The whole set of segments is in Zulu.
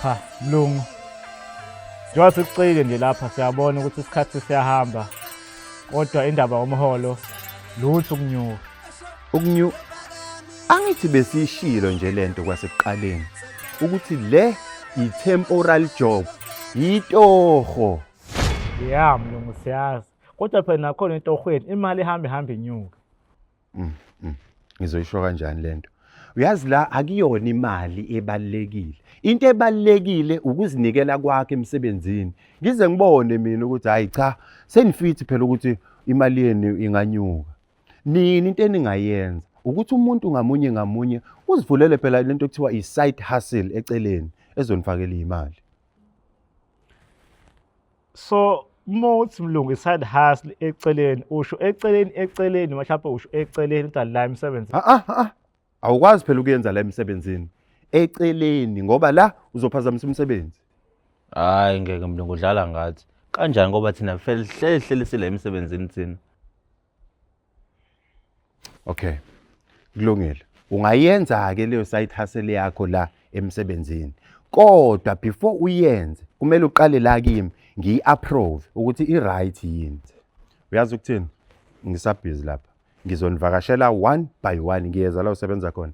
cha mlungu njengoba sikucike nje lapha siyabona ukuthi isikhathi siyahamba kodwa indaba yomholo lutho ukunyuka ukunyuka angithi besishilo nje lento kwasekuqaleni ukuthi le yi-temporal job yitoho ya mlungu siyazi kodwa phela nakhona entorhweni imali ihambe ihambe inyuka Mm, mm. Ngizoyisho kanjani lento? Uyazi la akuyona imali ebalekile. Into ebalekile ukuzinikela kwakhe emsebenzini. Ngize ngibone mina ukuthi hayi cha senifithi phela ukuthi imali yenu inganyuka. Nini into eningayenza ukuthi umuntu ngamunye ngamunye uzivulele phela lento ekuthiwa i-side hustle eceleni ezonifakela imali. so uma uthi mlungu i-side hustle eceleni usho eceleni eceleni mhlawumbe usho eceleni kodwa la imisebenzi Ah, ah, ah. awukwazi phela ukuyenza la emsebenzini eceleni ngoba la uzophazamisa umsebenzi Hayi ngeke mlungu udlala ngathi. Kanjani ngoba thina fehlehlelisile emsebenzini thina. Okay. Kulungile. Ungayenza ke leyo side hustle yakho la emsebenzini. Kodwa before uyenze kumele uqale la kimi ngiyi approve ukuthi i right yini. Uyazi ukuthini? Ngisabhizi lapha. Ngizonivakashela one by one ngiyeza la usebenza khona.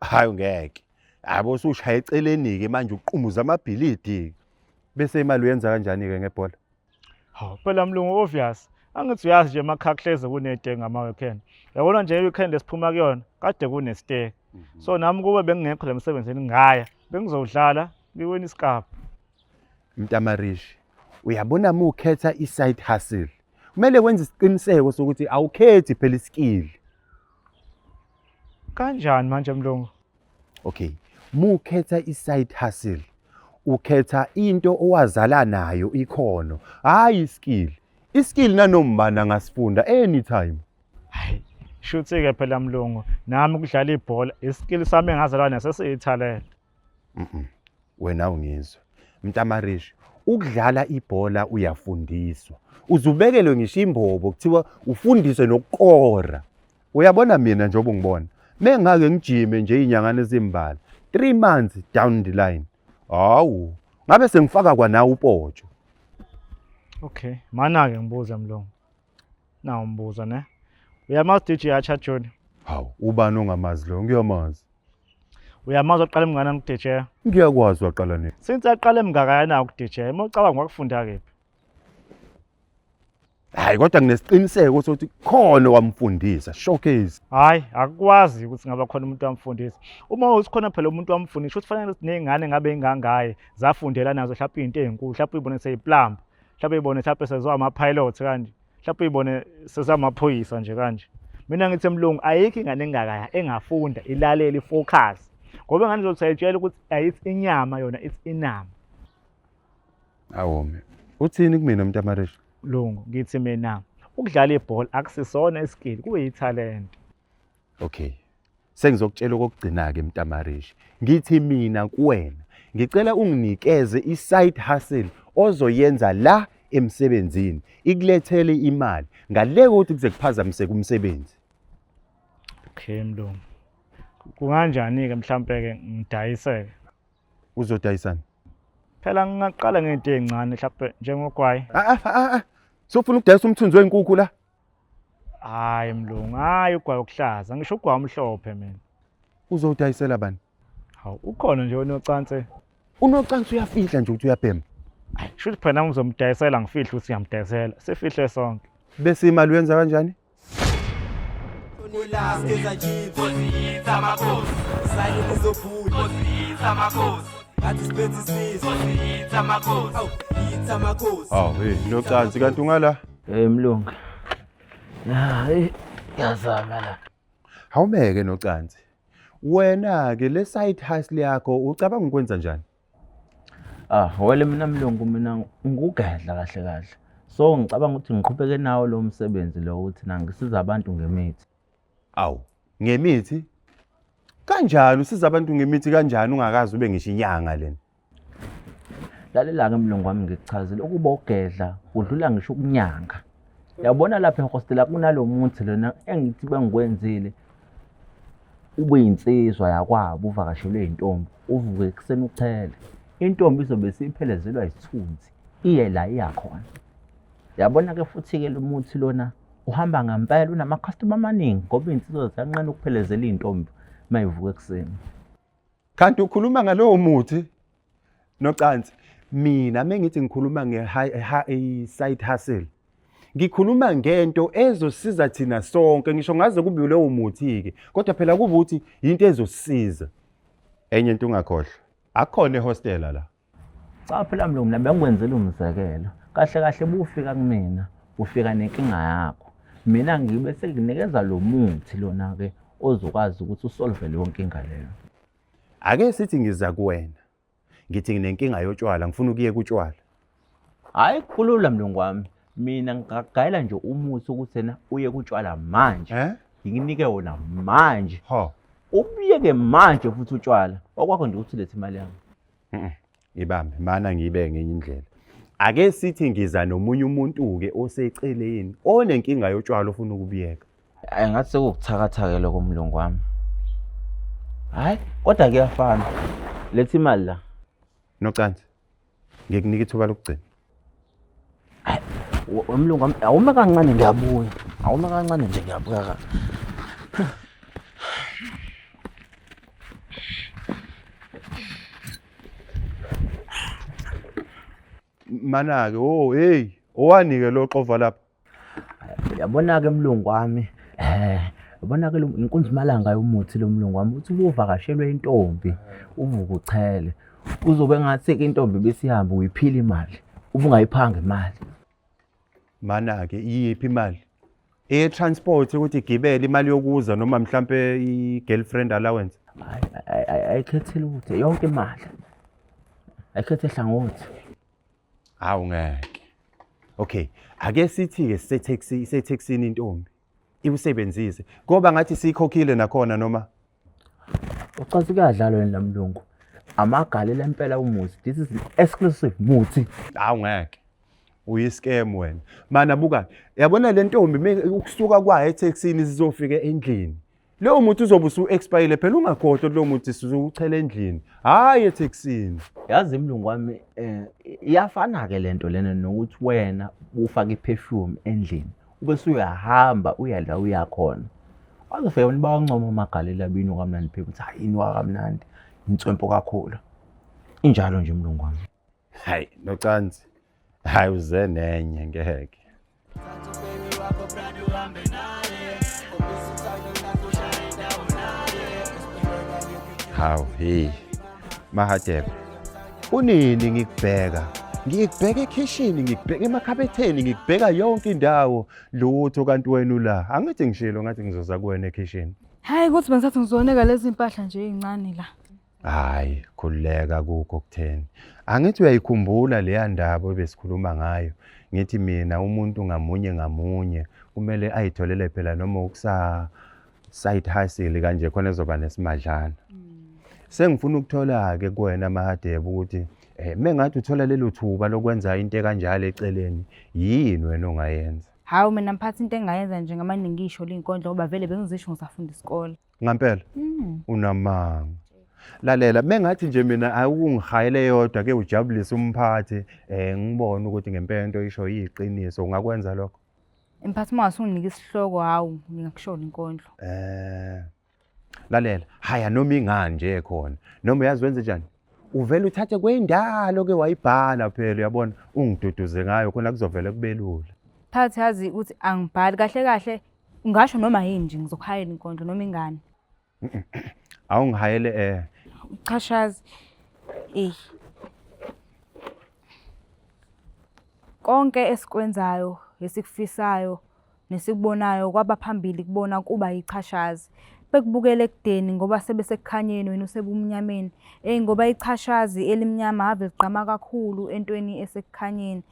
hayi ungeke hayi bo usushaya eceleni-ke manje uqumuza amabhilidi bese imali uyenza kanjani-ke ngebhola hawu phela mlungu obvious angithi uyazi nje emakhakuhleze kunedeke ngama-weekend yabona nje i-weekend esiphuma kuyona kade kunesteke mhm. so nami kube bengingekho le msebenzini ngaya bengizowudlala ngiwina isikabha mntamarishi uyabona uma ukhetha i-side hustle kumele wenze isiqiniseko sokuthi awukhethi phela isikili kanjani manje mlungu okay mukhetha i-side hustle ukhetha into owazala nayo ikhono hhayi iskill iskill nanombani angasifunda anytime hayi shuthi-ke phela mlungu nami ukudlala ibhola iskill sami engazalwa naso siyithalente Mhm. Wena ungizwe. Mntamarishi, ukudlala ibhola uyafundiswa. Uzubekelwe ngisho imbobo kuthiwa ufundiswe nokukora. Uyabona mina njengoba ungibona. Mengake ngijime nje inyangane ezimbala. 3 months down the line. Hawu, ngabe sengifaka kwanawo upotsho. Okay. Mana ke ngibuza mlungu. Nawu umbuzo ne. Uyamazi DJ Hacha Junior? Hawu, ubani ongamazi lo? Ngiyamazi. Uyamazi oqala emngana ngu-DJ? Ngiyakwazi waqala nini? Since aqala emngaka yana ku-DJ, uma ucabanga wakufunda kephi? Hayi kodwa nginesiqiniseko sokuthi khona wamfundisa showcase. Hayi, akukwazi ukuthi ngaba khona umuntu wamfundisa. Uma usikhona phela umuntu wamfundisa, ukuthi fanele sinezingane ngabe ingangaye zafundela nazo mhlawumbe izinto ezinkulu, mhlawumbe uyibone seyiplamba. mhlawumbe ibone mhlawumbe sezwa ama-pilot kanje mhlawumbe ibone sezwa amaphoyisa nje kanje mina ngithi emlungu ayikho ingane engakaya engafunda ilalele ifocus ngoba ingane izothi ayitshela ukuthi ayithi inyama yona ithi inama awome uthini kumina mntamarisha lungu ngithi mina ukudlala ibhola akusisona iskill kuyithalente Okay. Sengizokutshela okokugcina ke Mtamarishi. Ngithi mina kuwena ngicela unginikeze i-side hustle ozoyenza la emsebenzini ikulethele imali ngale kokuthi kuze kuphazamiseke umsebenzi. Okay mlungu. Kunganjani ke mhlampe ke ngidayiseke? Uzodayisana? Phela ngingaqala ngento ezincane mhlampe njengogwayi. Ah ah ah. Sofuna ukudayisa umthunzi wenkukhu la. hayi mlungu hayi ugwayi okuhlaza ngisho ugwayi omhlophe mina uzowudayisela bani hawu ukhona nje onocansi unocansi uyafihla nje ukuthi uyabhema ayi kusho ukuthi phela ngizomdayisela ngifihle ukuthi ngiyamdayisela sifihle sonke bese imali uyenza kanjani awu hey nocansi kanti ungala Hey mlungu. Hayi yazama la. Hawumeke nocansi. Wena ke le side hustle yakho ucabanga ukwenza njani? Ah, wele mina mlungu mina ngikugedla kahle kahle. So ngicabanga ukuthi ngiqhubeke nawo lo msebenzi lo uthi nangisiza abantu ngemithi. Awu, ngemithi? Kanjani usiza abantu ngemithi kanjani ungakazi ube ngisho inyanga lena? Lalela-ke mlungu wami ngikuchazile ukuba ugedla udlula ngisho ukunyanga. Yabona lapha ehostela kunalo muthi lona engithi bengikwenzile ube yinsizwa yakwabo uvakashelwe yintombi uvuke ekuseni uchele. Intombi izobe isiphelezelwa yisithunzi iye la iyakhona. Yabona-ke futhi-ke lo muthi lona uhamba ngempela unamakhastoma amaningi ngoba iy'nsizwa ziyanqena ukuphelezela iy'ntombi uma ivuka ekuseni kanti ukhuluma ngalowo muthi nocansi mina mengithi ngikhuluma nge-side hustle ngikhuluma ngento ezosiza thina sonke ngisho ngaze kube lowo muthi-ke kodwa phela kuba ukuthi yinto ezosiza enye into ungakhohlwa akhona ehostela la Cha phela mlungu mina bengikwenzela umzekelo. Kahle kahle bufika kumina, ufika nenkinga yakho. Mina ngibe sengikunikeza lo muthi lona ke ozokwazi ukuthi usolve leyo nkinga leyo. Ake sithi ngiza kuwena. Ngithi nginenkinga yotshwala, ngifuna ukuye kutshwala. Hayi kulula mlungu wami. Mina ngigayela nje umuthi ukuthi yena uye kutshwala manje. Eh? Ngikunike wona manje. Ho. Ubuyeke manje futhi utshwala. Okwakho nje ukuthi lethe imali yami. Ibambe mana ngibe ngenye indlela. Ake sithi ngiza nomunye umuntu ke oseceleni onenkinga yotshwala ofuna ukubiyeka. Ay ngathi sekukuthakathake lokho mlungu wami. Hayi kodwa kuyafana. Lethi imali la. Nocansi. Ngikunika ithuba lokugcina. Umlungu awume kancane ngiyabuya. Awume kancane nje ngiyabuya ka. Manake, oh hey, owanike lo xova lapha. Yabona-ke mlungu wami um yabona-ke inkunzi imalanga yomuthi lo mlungu wami uthi ubuvakashelwe intombi uvuke uchele uzobe ngathi-ke intombi besihambe uyiphile imali ubungayiphanga imali mana-ke iyiphi imali e-transport ukuthi igibele imali yokuza noma mhlampe i-girlfriend allowance ayikhethile ukuthi yonke imali ayikhethehlangothi Hawu ngeke. Okay, ake sithi ke sise taxi ise taxini intombi. Ikusebenzise. Ngoba ngathi sikhokhile nakhona noma Ucathi kuyadlalwa yini lamlungu? Amagalela impela umuzi. This is exclusive muthi. hawu ngeke. Uyiscam wena. Mana buka, yabona le ntombi me ukusuka kwayo etaxini sizofika endlini. Leyo muthi uzobe usu-expayile phela ungakhohlwa ukuthi leyo muthi sizuwuchela endlini hhayi ethekisini. Yazi mlungu wami um iyafana-ke le nto lena nokuthi wena ufake iphefyumu endlini ube suyahamba uya la uya khona. Wazofika abantu bawancoma amagalela bino kamnandi phela ukuthi hhayi yini wakamnandi inswempo kakhulu. Injalo nje mlungu wami. Hhayi nocansi hayi uze nenye ngeke hawu hey mahadebe kunini ngikubheka ngikubheka ekhishini ngikubheka emakhabetheni ngikubheka yonke indawo lutho kanti wena ula angithi ngishilo ngathi ngizoza kuwena ekhishini hayi kuthi bengisathi ngizoneka lezi mpahla nje ezincane la Hayi, khululeka kukho kutheni. Angithi uyayikhumbula leya ndaba ebesikhuluma ngayo. Ngithi mina umuntu ngamunye ngamunye kumele ayitholele phela noma ukusa side hustle kanje khona ezoba nesimadlana. Sengifuna ukuthola ke kuwena Mahadebe ukuthi eh mengathi uthola lelo thuba lokwenza into ekanjalo eceleni yini wena ongayenza. Hawu mina mphathi into engayenza nje ngamane ngisho linkondlo ngoba vele bengizisho ngisafunda isikole. ngampela Mm. unamanga lalela mengathi nje mina awungihayele yodwa ke ujabulise umphathi eh ngibone ukuthi ngempela into isho yiqiniso ungakwenza lokho Mphathi uma wasunginika isihloko hawu ngingakushona inkondlo. eh lalela haya noma ingani nje khona noma uyazi wenze njani uvele uthathe kwendalo ke wayibhala phela uyabona ungiduduze ngayo khona kuzovele kubelula phakathi yazi ukuthi angibhali kahle kahle ngasho noma yini nje ngizokuhayela inkondlo noma ingane awungihayele eh uchashazi eh konke esikwenzayo esikufisayo Nesikubonayo kwabaphambili kubona kuba yichashazi. Bekubukela ekudeni ngoba sebe sekukhanyeni wena usebumnyameni. Eyi ngoba ichashazi elimnyama ave ligqama kakhulu entweni esekukhanyeni.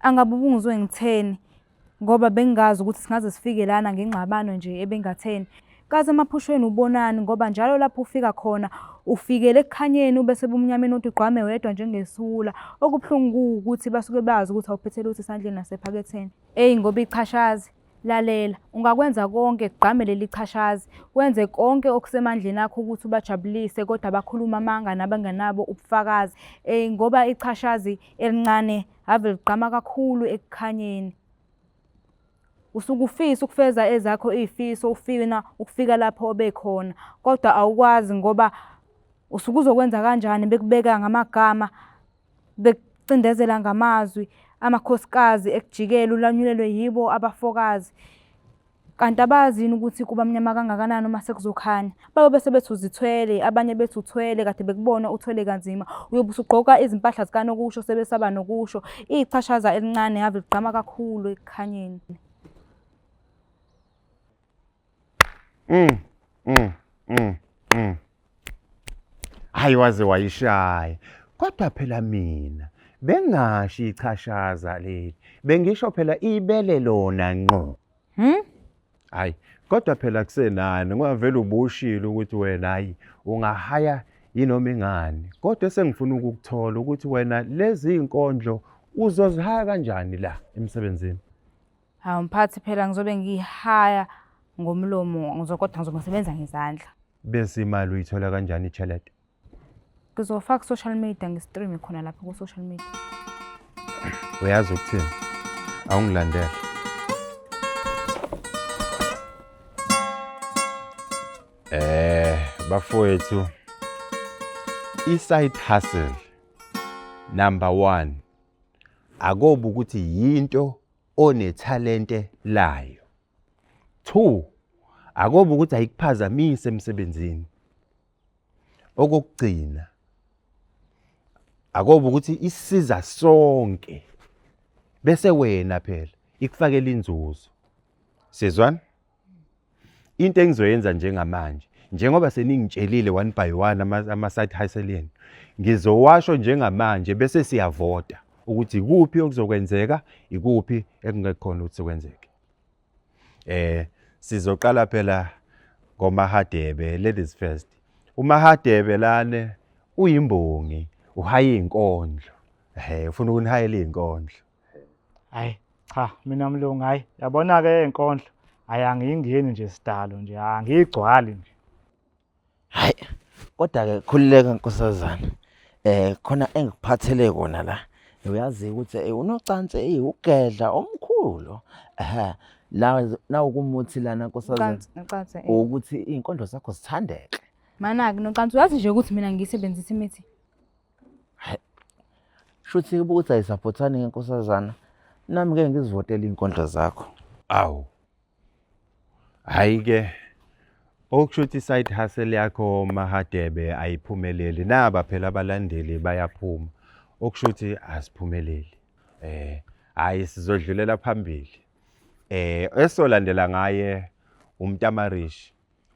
Angabe ubungizwe ngitheni ngoba bengingazi ukuthi singaze sifike lana ngengxabano nje ebengatheni. Kaze emaphushweni ubonani ngoba njalo lapho ufika khona ufikele ekukhanyeni ube sebumnyameni uthi ugqame wedwa njengesiwula. Okubuhlungu kuwukuthi basuke bazi ukuthi awuphethe lutho esandleni nasephaketheni. Eyi ngoba ichashazi, lalela, ungakwenza konke kugqame leli chashazi, wenze konke okusemandleni akho ukuthi ubajabulise kodwa bakhuluma amanga nabangenabo ubufakazi. Eyi ngoba ichashazi elincane ave ligqama kakhulu ekukhanyeni. Usuke ufisa ukufeza ezakho iy'fiso ufina ukufika lapho obekhona kodwa awukwazi ngoba usuke uzokwenza kanjani bekubeka ngamagama Bekucindezela ngamazwi amakhosikazi ekujikela ulanyulelwe yibo abafokazi. Kanti abazi yini ukuthi kuba mnyama kangakanani uma sekuzokhanya? Babe bese bethi uzithwele, abanye bethi uthwele, kade bekubona uthwele kanzima. Uyobe usugqoka izimpahla zikanokusho sebesaba nokusho. Ichashaza elincane ave ligqama kakhulu ekukhanyeni. Mm, mm, mm, mm. Hayi waze wayishaya. Kodwa phela mina bengashi ichashaza leli. Bengisho phela ibele lona nqo. Hmm? Hayi, kodwa phela kusenani ngavela ubushile ukuthi wena hayi ungahaya yinoma ingani. Kodwa sengifuna ukukuthola ukuthi wena lezi inkondlo uzozihaya kanjani la emsebenzini. Hawu mphathi phela ngizobe ngihaya ngomlomo ngizokodwa ngizobe ngisebenza ngezandla. Bese imali uyithola kanjani iChalete? Ngizofaka ku-social media ngi-streame khona lapho ku-social media. Uyazi ukuthini? Awungilandele. Eh, bafowethu i-side hustle number 1 akobe ukuthi yinto onethalente layo. Two, akobe ukuthi ayikuphazamise emsebenzini. Okokugcina, akobe ukuthi isiza sonke bese wena phela ikufakela inzuzo. Sizwana? into engizoyenza njengamanje njengoba seningitshelile one by one ama-side hustle enu ngizowasho njengamanje bese siyavota ukuthi ikuphi okuzokwenzeka ikuphi ekungekhona ukuthi kwenzeke eh sizoqala phela ngomahadebe ladies first umahadebe lane uyimbongi uhaye inkondlo ehe ufuna ukunihayela inkondlo hayi cha mina mlungu hayi yabona-ke enkondlo hayi angiyingeni nje sidalo nje angiyigcwali nje hayi kodwa-ke khululeka nkosazana um khona engikuphathele kona la uyazi ukuthi eh, unocansi eyi ugedla omkhulu ehe la nawukumuthi lana nkosazana eh. ukuthi iy'nkondlo zakho zithandeke manaki nocansi uyazi nje ukuthi mina ngiyisebenzisa imithi Shuthi kuba ukuthi ayisaphothani ngenkosazana. Nami ngeke ngizivotele iy'nkondlo zakho. Awu. Hhayi-ke okusho ukuthi i-side hustle yakho Mahadebe ayiphumeleli. Naba phela abalandeli bayaphuma. Okusho ukuthi asiphumeleli. Eh, hhayi sizodlulela phambili. Eh, esolandela ngaye umntamarishi.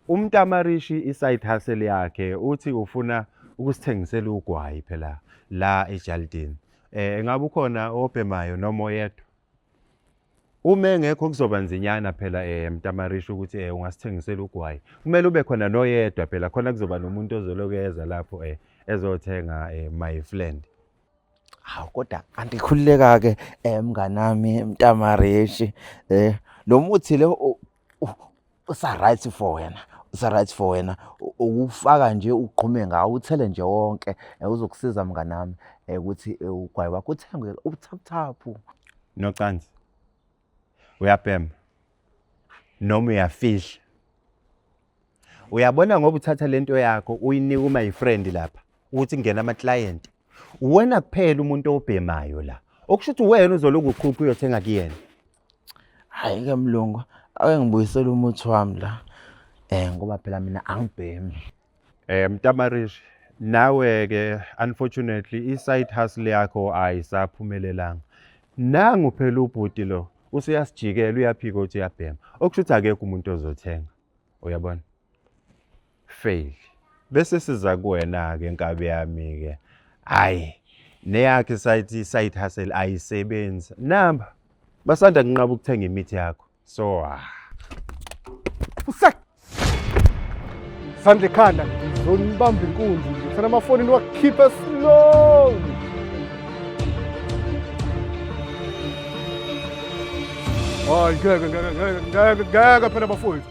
UMtamarishi i-side hustle yakhe uthi ufuna ukusithengisela ugwayi phela la ejalidini. Eh engabe ukhona obhemayo noma oyedwa? Uma engekho kuzoba nzinyana phela eh Mtamarishi ukuthi eh ungasithengisela ugwayi. Kumele ube khona noyedwa phela khona kuzoba nomuntu ozolokeza lapho eh ezothenga eh my friend. Hawu kodwa andikhululeka ke eh mnganami Mtamarishi eh lo muthi lo usa right for wena usa right for wena ukufaka nje ugqume ngawo uthele nje wonke eh, uzokusiza mngane wami eh, ukuthi eh, ugwayi wakho uthenge ubuthaphuthaphu nocansi uyabhema noma uyafihla uyabona ngoba uthatha lento yakho uyinika uma yifriend lapha ukuthi kungena ama client uwena kuphela umuntu obhemayo la okusho ukuthi wena uzoloku ukhupha uyothenga kuyena Hhayi-ke mlungu, ake ngibuyisele umuthi wami la um ngoba phela mina angibhemi. Eh Mtamarishi, nawe ke unfortunately i-side hustle yakho ayisaphumelelanga. Nangu phela ubhuti lo usuyasijikela uyaphika ukuthi uyabhema. Okusho ukuthi akekho umuntu ozothenga. Uyabona? fail bese siza kuwena ke nkabi yami ke hayi neyakhe sayithi side hustle ayisebenzi namba basanda kunqaba ukuthenga imithi yakho so ah sandle khanda zonibamba inkunzi ngifuna amafoni niwakhiphe slowly hayi ngeke ngeke ngeke ngeke ngeke phela bafowethu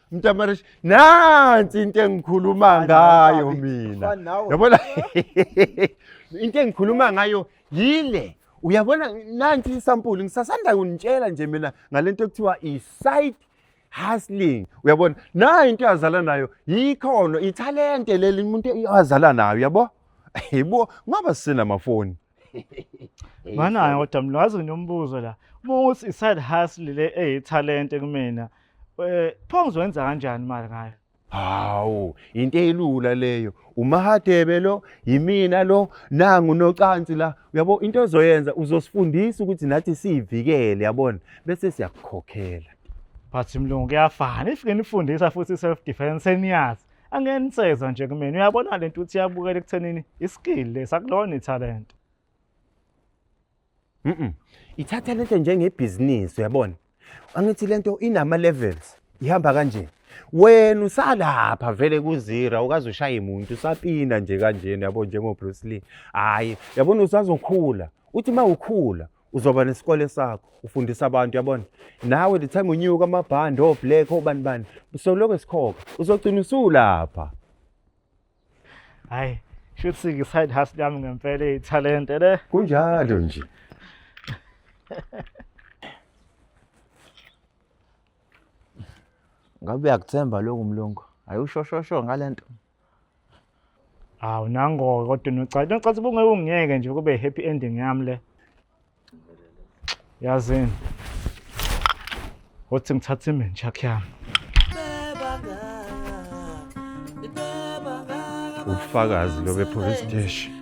mntamarish nansi into engikhuluma ngayo mina yabona into engikhuluma ngayo yile uyabona nansi isampulu ngisasanda kunitshela nje mina ngalento ekuthiwa i-site hustling uyabona nayo into yazala nayo yikhono ithalente leli umuntu azala nayo yabo yebo ngoba sinamafoni Banayo kodwa mina wazi nginombuzo la. Uma uthi i-side hustle le eyithalente kumina, eh pho ngizokwenza kanjani imali ngayo? Hawu, into elula leyo. Umahadebe lo, yimina lo, nangu nocansi la. Uyabo into ozoyenza uzosifundisa ukuthi nathi siyivikele, yabona? Bese siyakukhokhela. But mlungu kuyafana. If nginifundisa futhi self defense seniyazi. angeke niseza nje kumina uyabona le nto uthi iyabukela ekuthenini iskill lesi akulona ithalente mm ithathalente njengebhizinisi uyabona angithi le nto inama-levels ihamba kanje wena usalapha vele kuzira ukaze ushaye muntu usapina nje kanjena yabo njengobruce lee hhayi yabona usazokhula uthi uma ukhula uzoba nesikole sakho ufundisa abantu yabona nawe the time unyuka amabhandi oblack obani bani usoloko esikhokha uzogcina usulapha hayi shuthi ngi-side hustle yami ngempela ithalente le kunjalo nje ngabe uyakuthemba loku mlungu hayi ushoshosho ngale nto Hawu nangoke kodwa unocathi. Nocathi ubungeke ungiyeke nje kube happy ending yami le. Yazini. Uthi ngithatha imenja yami. Ubufakazi lobe police station.